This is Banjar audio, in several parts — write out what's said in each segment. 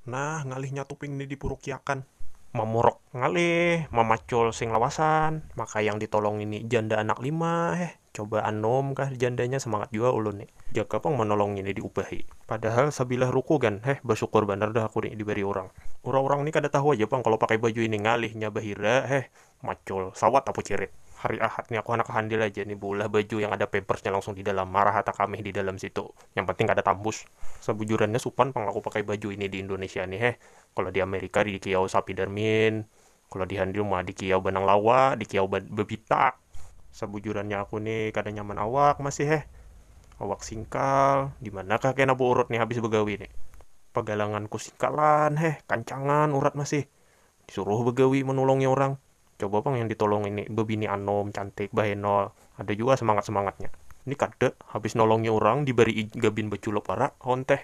Nah, ngalihnya tuping ni dipurukiakan. Mamuruk ngalih, mamacul sing lawasan, maka yang ditolongi ni janda anak lima, heh, coba anum kah jandanya semangat jua ulun ni. Jaka pang manolongi ni diubahi. Padahal sabilah ruku gan, heh, basyukur banar dah aku ni dibari urang. Urang-urang ni kada tahu aja pang kalo pakai baju ini, ngalihnya bahira, heh, Macul, sawat aku cirit. Hari Ahad ni aku handak handil aja ni beulah baju yang ada pampersnya langsung di dalam, marah hata kamih di dalam situ. Yang penting kada tambus. Sabujurannya supan pang aku pakai baju ini di Indonesia ni heh. Kalo di Amerika dikiyau sapidermin, kalo di handil ma dikiyau benang lawa, dikiyau bebitak. Sabujurannya aku ni kada nyaman awak masih heh. Awak singkal, dimanakah kena beurut ni habis begawi ni. Pagalanganku singkalan heh, kancangan urat masih. Suruh bagawi manulongi orang. Coba pang yang ditolongi ni babini anum, cantik, bahenol. Ada jua semangat-semangatnya. Ni kada, habis nolongi urang dibarii gabin baculap wara awan teh.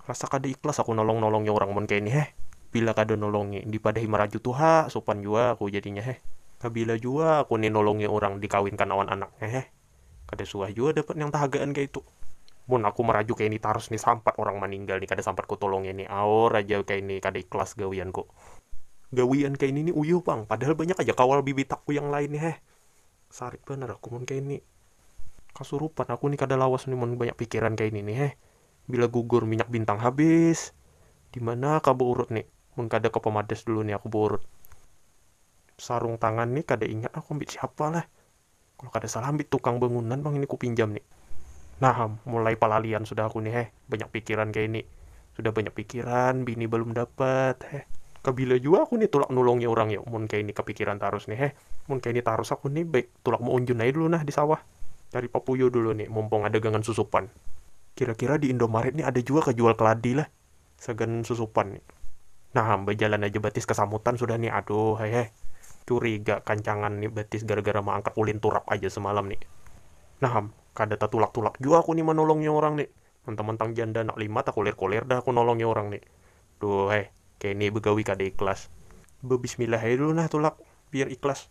Rasa kada ikhlas aku nolong-nolongi urang mun kaya ni heh. Bila kada nulongi, dipadahi maraju tuha, supan jua aku jadinya heh. Kabila jua aku ni nulungi urang dikawinkan awan anaknya heh. Kada suah jua dapat nang tahagaan kaya itu. Mun aku maraju kaya ini tarus ni sampat orang maninggal ni kada sampat ku tulungi ni aur aja kaya ini kada ikhlas gawianku. Gawian kaya ini ni uyuh pang, padahal banyak aja kawal bibitakku yang lain ni heh. Sarik banar aku mun kaya ini. Kasurupan aku ni kada lawas ni mun banyak pikiran kaya ini ni heh. Bila gugur minyak bintang habis. Dimana kah beurut ni. Mun kada ke pemadas dulu ni aku beurut. Sarung tangan ni kada ingat aku ambit siapa lah. Kalo kada salah ambit tukang bangunan pang ini kupinjam ni. Nah am, mulai palalian sudah aku ni heh, banyak pikiran kaya ini. Sudah banyak pikiran, bini balum dapat heh. Kabila jua aku ni tulak nulungi urang yo mun kaya ini kapikiran tarus ni heh. Mun kaya ini tarus aku ni baik tulak maunjun aja dulu nah di sawah. Cari papuyuh dulu ni, mumpung ada gangan susupan. Kira-kira di Indomaret ni ada jua kah jual keladi lah? sagan susupan ni nah bajalan aja batis kasamutan sudah ni aduh he he curiga kancangan ni batis gara gara maangkat ulin turap aja semalam ni nah am kada tatulak tulak jua aku ni manolongi orang ni mentang mentang janda anak lima takulir kulir dah aku nolongi orang ni duh he kini begawi kada ikhlas bebismillah aja dulu nah tulak biar ikhlas.